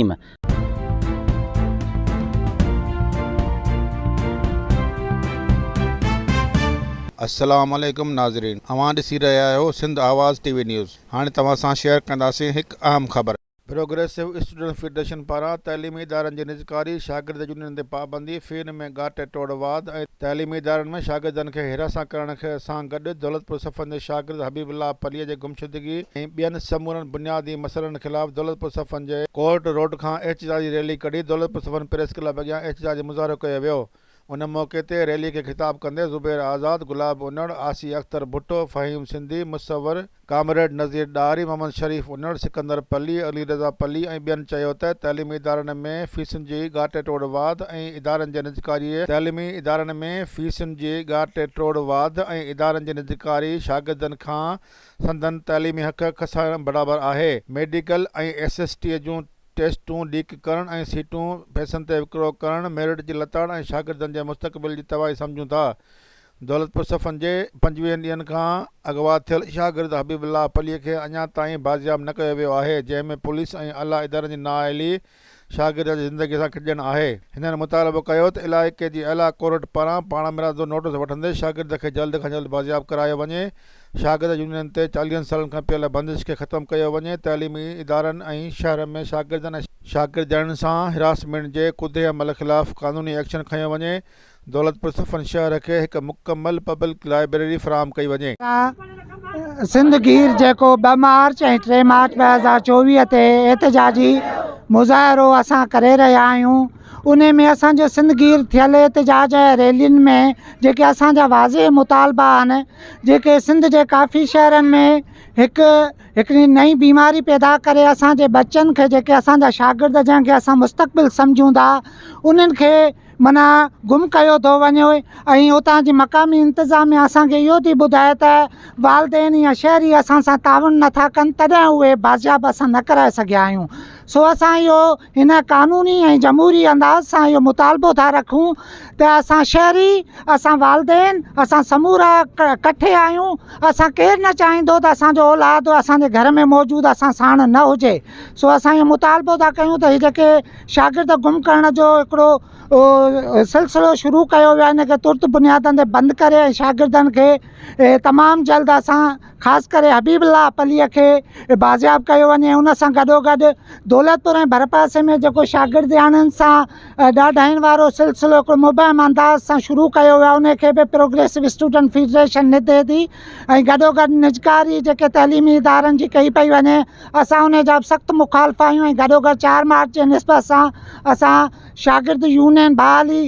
الرحيم. السلام عليڪم ناظرين اوهان ڏسي رهيا آهيو سنڌ آواز ٽي وي نيوز هاڻي توهان سان شيئر ڪنداسين هڪ اهم خبر. پروگريسو اسٽوڊنٽس فيڊريشن پاران تعليمي ادارن جي نجڪاري، شاگرد يونين ڪوٽن تي پابندي، فين ۾ ڳاٽ ٽوڙ واڌ ۽ تعليمي ادارن ۾ شاگردن کي حراسان ڪرڻ سان گڏ دولتپور صفن جي شاگرد حبيب الله پليء جي گمشدگي ۽ ٻين سمورن بنيادي مسئلن خلاف دولتپور صفن جي ڪورٽ روڊ کان احتجاجي ريلي ڪڍي دولتپور صفن پريس ڪلب اڳيان احتجاجي مظاهرو ڪيو ويو ان موقعي تي ريلي کي خطاب ڪندي زبير آزاد، گلاب انڙ، آسيه اختر ڀٽو، فهيم سنڌي، مصور، ڪامريڊ نذير ڏاهري، محمد شريف انڙ، سڪندر پلي، علي رضا پلي ۽ ٻين چيو ته تعليمي ادارن ۾ فيسن جي ڳاٽي ٽوڙ واڌ ۽ ادارن جي نجڪاري تعليمي ادارن ۾ فيسن جي ڳاٽي ٽوڙ واڌ ۽ ادارن جي نجڪاري شاگردن کان سندن تعليمي حق کسائڻ برابر آهي ميڊيڪل ۽ ايس ايس ٽي جون ٽيسٽون ليڪ ڪرڻ ۽ سيٽون پئسن تي وڪرو ڪرڻ ميرٽ جي لتاڙ ۽ شاگردن جي مستقبل جي تباهي سمجهون ٿا دولتپور صفن جي پنجويهن ڏينهن کان اغوا ٿيل شاگرد حبيب الله پليء کي اڃا تائين بازياب نه ڪيو ويو آهي جنهن ۾ پوليس ۽ اعليٰ ادارن جي نااهلي شاگرد جي زندگي سان کيڏڻ آهي. هنن مطالبو ڪيو ته علائقي جي اعليٰ ڪورٽ پاران پاڻ مرادو نوٽيس وٺندي شاگرد کي جلد کان جلد بازياب ڪرايو وڃي، شاگرد يونين تي چاليهن سالن کان پيل بندش کي ختم ڪيو وڃي، تعليمي ادارن ۽ شهر ۾ شاگردن ۽ شاگردياڻين سان هراسمينٽ جي ڪوڌي عمل خلاف قانوني ايڪشن کنيو وڃي، دولتپور صفن شهر کي هڪ مڪمل پبلڪ لائبريري فراهم ڪئي وڃي. سنڌ گير جيڪو ٻه مارچ ۽ ٽي مارچ ٻه هزار چوويهه تي احتجاجي مظاهرو اسان ڪري رهيا آهيون ان ۾ اسان جو سنڌ گير ٿيل احتجاج ۽ ريلين ۾ جيڪي اسان جا واضح مطالبا آهن جيڪي سنڌ جي ڪافي شهرن ۾ هڪ هڪڙي نئين بيماري پيدا ڪري اسان جي ٻچن کي جيڪي اسان جا شاگرد جنهن کي اسان مستقبل سمجهون ٿا انهن کي معنيٰ گم ڪيو ٿو وڃي ۽ اتان جي مقامي انتظاميا اسان کي اهو ٿي ٻڌائي ته والدين يا شهري اسان سان تعاون نٿا ڪن تڏهن اهي بازياب اسان نه ڪرائي سگهيا آهيون سو اسان اهو هن قانوني ۽ جمهوري انداز سان اهو مطالبو ٿا رکون ته اسان شهري اسان والدين اسان سمورا ڪٺي آهيون اسان ڪير نه چاهيندو ته اسان جو اولاد اسان جي گهر ۾ موجود اسان ساڻ نه هجي سو اسان اهو مطالبو ٿا ڪيون ته هي جيڪي شاگرد گم ڪرڻ جو هڪڙو سلسلو شروع ڪيو ويو آهي ان کي ترت بنيادن تي بند ڪري ۽ شاگردن کي تمام جلد اسان خاص ڪري حبيب الله پليء کي بازياب ڪيو وڃي ان سان گڏو گڏ دولتپور ۽ ڀرپاسي ۾ جيڪو شاگردياڻين سان ڏاڍائين وارو سلسلو هڪڙو مبهم انداز سان شروع ڪيو ويو آهي ان کي به پروگريسو اسٽوڊنٽ فيڊريشن نھدي ٿي ۽ گڏو گڏ نجڪاري جيڪي تعليمي ادارن جي ڪئي پئي وڃي اسان ان جا به سخت مخالف آهيون ۽ گڏوگڏ چار مارچ جي نسبت سان اسان شاگرد يونين بحالي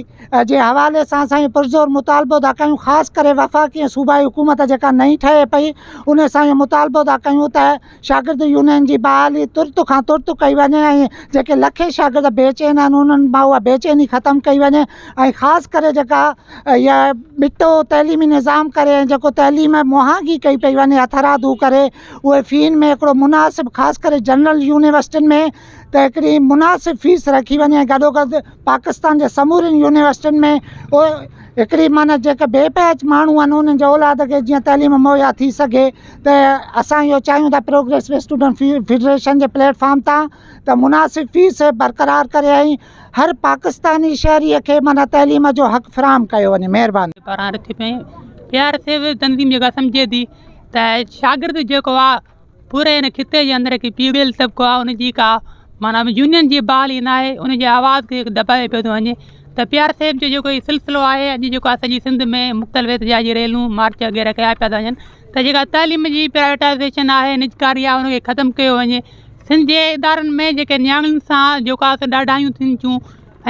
جي حوالي سان اسان اهو پرزور مطالبو ٿا ڪيون خاص ڪري وفاقي ۽ صوبائي حڪومت جيڪا نئين ٺهي پئي ان سان اهو مطالبو ٿا ڪيون ته شاگرد يونين جي بحالي ترت کان ترت ڪئي وڃي ۽ جيڪي لکين شاگرد بيچين آهن انهن مان اها بيچيني ختم ڪئي وڃي ۽ خاص ڪري جيڪا اها ٻٽو تعليمي نظام ڪري ۽ جيڪو تعليم مهانگي ڪئي پئي وڃي هٿ رادو ڪري اهي فين ۾ هڪڙو مناسب خاص ڪري جنرل يونيورسٽين ۾ ته هڪڙي مناسب فيس رکي وڃي ۽ گڏوگڏ پاڪستان جي سمورين يونيورسٽين ۾ هڪڙي معنيٰ جيڪي بي پهچ ماڻهو آهن انهن جي اولاد کي جيئن تعليم مهيا ٿي سگهي ته اسان اهو چاهيون ٿا پروگريسو اسٽوڊنٽ في فيڊريشن جي پليٽ فارم تان ته مناسب فيس برقرار ڪري ۽ هر پاڪستاني شهري کي معنيٰ تعليم جو حق فراهم ڪيو وڃي مهرباني. پاران رٿي پيئي پيار سيوي تنظيم جيڪا سمجهي ٿي ته شاگرد جيڪو آ پوري هن خطي جي اندر هڪ پيڙهيل طبقو آ ان جي ڪا معنيٰ يونين جي بحالي نه آهي ان جي آواز کي دٻايو پيو ٿو وڃي ته پيار صاحب جو جيڪو هي سلسلو آهي اڄ جيڪو آ سڄي سنڌ ۾ مختلف احتجاج جي ريلون مارچ وغيره ڪيا پيا ٿا وڃن ته جيڪا تعليم جي پرائيوٽائزيشن آهي نجڪاري آهي ان کي ختم ڪيو وڃي سنڌ جي ادارن ۾ جيڪي نياڻين سان جيڪو آ سو ڏاڍايون ٿين ٿيون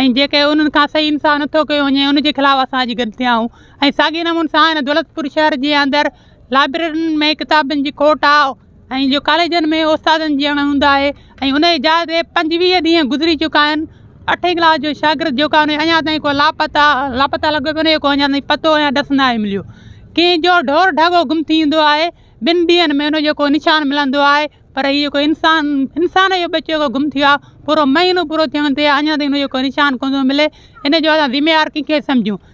۽ جيڪي انهن کان صحيح انصاف نٿو ڪيو وڃي ان جي خلاف اسان اڄ گڏ ٿيا آهيون ۽ ساڳي نمون سان هن دولتپور شهر جي اندر لائبررين ۾ ڪتابن جي کوٽ آ ۽ جو ڪاليجن ۾ استادن جي اڻ هوند آهي ۽ انهيء جاء تي پنجويهه ڏينهن گذري چڪا آهن اٺين ڪلاس جو شاگرد جيڪو آهي انهي اڃا تائين ڪو لاپتا لاپتا لڳو پيو انهيء ڪو اڃا تائين پتو يا ڏس نه آهي مليو ڪنهن جو ڍور ڍڳو گم ٿي ويندو آهي ٻن ڏينهن ۾ انهيء جو ڪو نشان ملندو آهي پر هي جيڪو انسان انسان جو ٻچو جيڪو گم ٿيو آهي پورو مهينو پورو ٿيڻ تي آهي اڃا تائين انهيء جو ڪو نشان ڪونه ٿو ملي انهيء جو اسان ذميوار ڪنهن کي سمجهون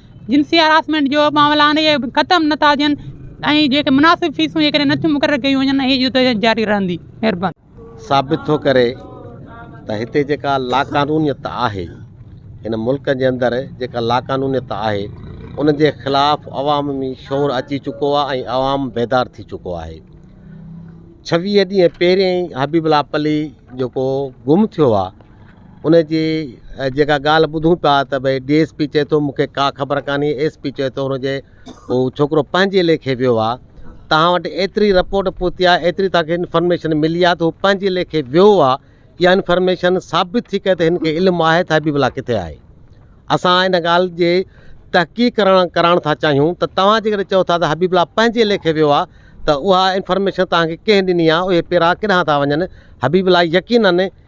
جنسي هراسمينٽ جو معاملا آهن اهي ختم نه ٿا ٿين ۽ جيڪي مناسب فيسون جيڪڏهن نه ٿيون مقرر ڪيون وڃن اهي جدو جهد جاري رهندي. مهرباني. ثابت ٿو ڪري ته هتي جيڪا لاقانونيت آهي هن ملڪ جي اندر جيڪا لاقانونيت آهي ان جي خلاف عوام ۾ شعور اچي چڪو آهي ۽ عوام بيدار ٿي چڪو آهي ڇويهه ڏينهن پهرين حبيب الله پلي جيڪو گم ٿيو آهي ان جي جيڪا ڳالهه ٻڌون پيا ته ڀئي ڊي ايس پي چئي ٿو مون کي ڪا خبر ڪانهي ايس پي چئي ٿو ان جي هو ڇوڪرو پنهنجي ليکي ويو آهي تهان وٽ ايتري رپورٽ پهتي آهي ايتري تهان کي انفارميشن ملي آهي ته هو پنهنجي ليکي ويو آهي يا انفارميشن ثابت ٿي ڪري ته هن کي علم آهي ته حبيب الله ڪٿي آهي اسان ان ڳالهه جي تحقيق ڪرڻ ڪرائڻ ٿا چاهيون ته توهان جيڪڏهن چئو ٿا ته حبيب الله پنهنجي ليکي ويو آهي ته اها انفارميشن توهان کي ڪنهن ڏني آهي اهي پيرا ڪيڏانهن ٿا وڃن حبيب الله يقينن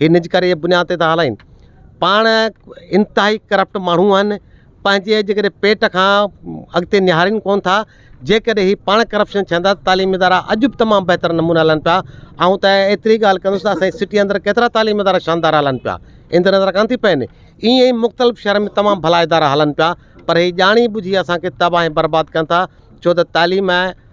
ھي نج ڪري بنياد تي ٿا ھلائين پاڻ انتھائي ڪرپٽ ماڻھون آھن پنھنجي جيڪڏھن پيٽ کان اڳتي نھارين ڪون ٿا جيڪڏھن ھي پاڻ ڪرپشن ڇھن ٿا تعليمي ادارا اڄ بھ تمام بھتر نموني ھلن پيا آئون ته ايتري ڳالھھ ڪندس ته اسانجي سٽي اندر ڪيترا تعليمي ادارا شاندار ھلن پيا ان تي نظر ڪانھ ٿي پين ايئن ئي مختلف شھرن ۾ تمام بھلا ادارا ھلن پيا پر ھي ڄاڻي ٻجھي اسانکي تباھ ۽ برباد ڪن ٿا ڇو ته تعليم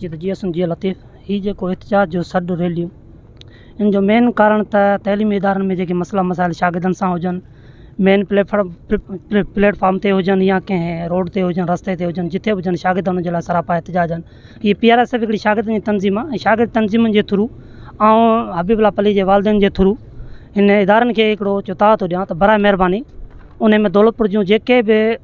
جي ته جي اسم جي لطيف هي جيڪو احتجاج جو سڏ ريليون ان جو مين ڪارڻ ته تعليمي ادارن ۾ جيڪي مسئلا مسائل شاگردن سان هجن مين پليفارم پليٽفارم تي هجن يا ڪنهن روڊ تي هجن رستي تي هجن جتي به هجن شاگرد ان جي لاء سراپا احتجاج آهن هي پي آر ايس ايف شاگردن جي تنظيم آهي ۽ شاگرد تنظيمن جي ٿرو آئون حبيب الله پليجي جي والدين جي ٿرو هن ادارن کي هڪڙو چتاء ٿو ڏيان ته برائي مهرباني ان ۾ دولت پور جون جيڪي به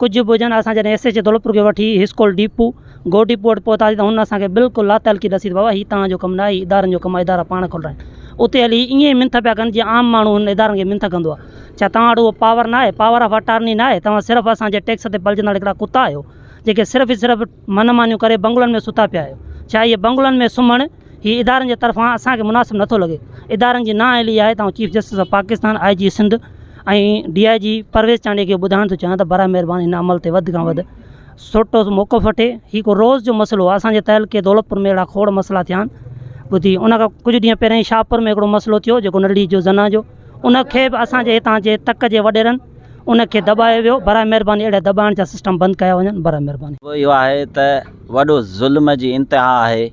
ڪجهه به هجن اسان جڏهن ايس ايچ او دولتپور کي وٺي اسڪول ڊپو گو ڊپو وٽ پهتاسين ته هن اسانکي بلڪل لاتعلقي ڏسي ته بابا هي توهان جو ڪم نه آهي هي ادارن جو ڪم آهي ادارا پاڻ کول رائين اتي هلي هي ائين منٿ پيا ڪن جيئن عام ماڻهو هن ادارن کي منٿ ڪندو آهي ڇا توهان وٽ اهو پاور نه آهي پاور آف اٽارني نه آهي توهان صرف اسان جي ٽيڪس تي پلجندڙ هڪڙا ڪتا آهيو جيڪي صرف صرف من مانيون ڪري بنگلن ۾ ستا پيا آهيو. ڇا اهي بنگلن ۾ سمهڻ هي ادارن جي طرفان اسان کي مناسب نٿو لڳي. ادارن جي نااهلي آهي ته آئون chief justice of Pakistan, I G Sindh ۽ D I G Parvez Chandio کي ٻڌائڻ ٿو چاهيان ته براه مهرباني هن عمل تي وڌ کان وڌ سوٽو موقف وٺي. هي ڪو روز جو مسئلو آهي. اسان جي تعلقي دولتپور ۾ اهڙا کوڙ مسئلا ٿيا آهن. ٻڌي ان کان ڪجهه ڏينهن پهريائين شاهپور ۾ هڪڙو مسئلو ٿيو جيڪو نڙڙي جو زنا جو. ان کي به اسان جي هتان جي تڪ جي وڏيرن ان کي دٻايو ويو برائي مهرباني اهڙي دٻائڻ جا سسٽم بند ڪيا وڃن برائي مهرباني. موضوع اهو آهي ته وڏو ظلم جي انتها آهي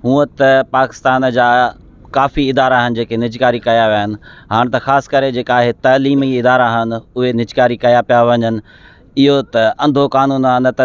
هونء ته پاڪستان جا ڪافي ادارا آهن جيڪي نجڪاري ڪيا ويا آهن هاڻ ته خاص ڪري جيڪا اهي تعليمي ادارا آهن اهي نجڪاري ڪيا پيا وڃن اهو ته انڌو قانون آهي نه ته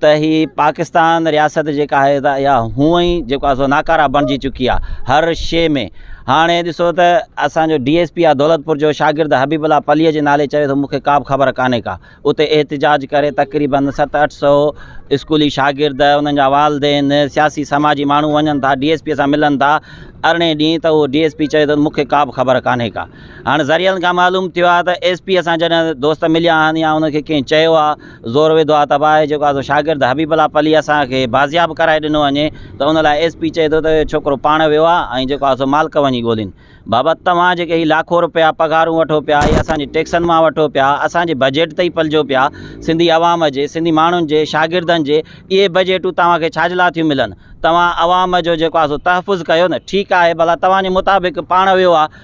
ته هي پاڪستان رياست جيڪا آهي ته اها هونئن ئي جيڪو آهي سو ناڪاره بڻجي چڪي آهي هر شيء ۾ هاڻي ڏسو ته اسانجو ڊي ايس پي آهي دولتپور جو شاگرد حبيب الله پليء جي نالي چوي ٿو مون کي ڪابه خبر ڪانهي ڪا اتي احتجاج ڪري تقريباً ست اٺ سو اسڪولي شاگرد انهن جا والدين سياسي سماجي ماڻهو وڃن ٿا ڊي ايس پي سان ملن ٿا ارڙهن ڏينهن ته اهو ڊي ايس پي چوي ٿو مون کي ڪابه خبر ڪانهي ڪا هاڻي ذريعن کان معلوم ٿيو آهي ته ايس پيء سان جڏهن دوست مليا آهن يا ان کي ڪنهن چيو آهي زور وڌو آهي ته اڀا هي جيڪو آسو شاگرد حبيب الله پلي اسان کي بازياب ڪرائي ڏنو وڃي ته ان لاء ايس پي چئي ٿو ته اهو ڇوڪرو پاڻ ويو آهي ۽ جيڪو آسو مالڪ وڃي ڳولين بابا توهان جيڪي هي لاکو روپيا پگهارون وٺو پيا اهي اسان جي ٽيڪسن مان وٺو پيا اسان جي بجيٽ تي ئي پلجو پيا سنڌي عوام جي سنڌي ماڻهن جي شاگردن جي اهي بجيٽون توهان کي ڇا جي لاء ٿيون ملن توهان عوام جو جيڪو آسو تحفظ ڪيو نه ٺيڪ آهي ڀلا توهان جي مطابق پاڻ ويو آهي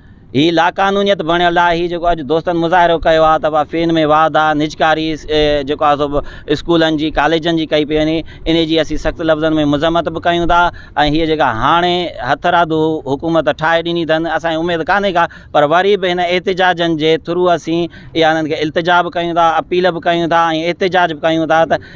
هي لاقانونيت بڻيل آهي هي جيڪو اڄ دوستن مظاهرو ڪيو آهي ته فين ۾ واڌ آهي نجڪاري جيڪو آهي سو بھ اسڪولن جي ڪاليجن جي ڪئي پئي وڃي ان جي اسين سخت لفظن ۾ مذمت بھ ڪيون ٿا ۽ هيء جيڪا هاڻي هٿرادو حڪومت ٺاهي ڏني اٿن اسان کي اميد ڪانھي ڪا پر وري بھ هن احتجاجن جي ٿرو اسين اها انھن کي التجا بھ ڪيون ٿا اپيل بھ ڪيون ٿا ۽ احتجاج بھ ڪيون ٿا ته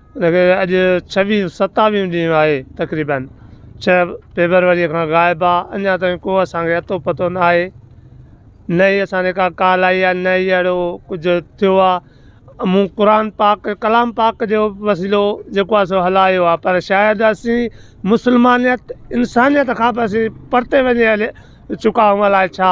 ان کي اڄ ڇويهيون ستاويهون ڏينهن آهي تقريبن ڇهه فيبروريء کان غائب آ اڃا تائين کو اسانکي اتو پتو نه آهي نه ئي اسان ڏي ڪا ڪال آئي آ نه ئي اهڙو ڪجهه ٿيو آ مون قرآن پاڪ ڪلام پاڪ جو وسيلو جيڪو آ سو هلايو آ پر شايد اسين مسلمانيت انسانيت کان به اسين پرتي وڃي هلي چڪا آهيون الائي ڇا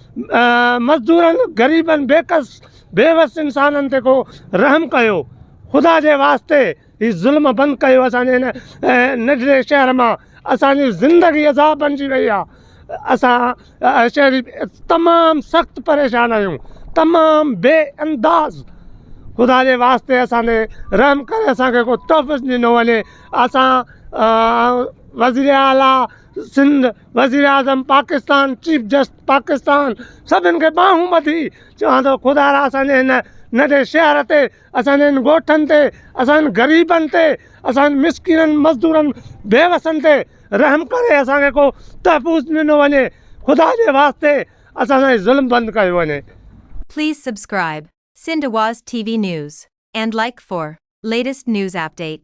مزدورن، غريبن، بيڪس، بيوس انسانن تي ڪو رحم ڪيو. خدا جي واسطي هي ظلم بند ڪيو اسان جي هن ننڍڙي شهر مان اسان جي زندگي عذاب بنجي وئي آ اسان شهري تمام سخت پريشان آهيون تمام بي انداز خدا جي واسطي اسان تي رحم ڪري اسان کي ڪو تحفظ ڏنو وڃي اسان وزير اعلٰي سنڌ، وزيراعظم پاڪستان، چيف جسٽس پاڪستان سڀن کي ٻانهون ٻڌي چوان ٿو خدارا اسان جي هن ننڍي شهر تي اسان جي هن ڳوٺن تي اسان غريبن تي اسان مسڪينن مزدورن بيوسن تي رحم ڪري اسان کي ڪو تحفظ ڏنو وڃي خدا جي واسطي اسان سان هي ظلم بند ڪيو وڃي. Please subscribe Sindh Awaz TV News and like for latest news update.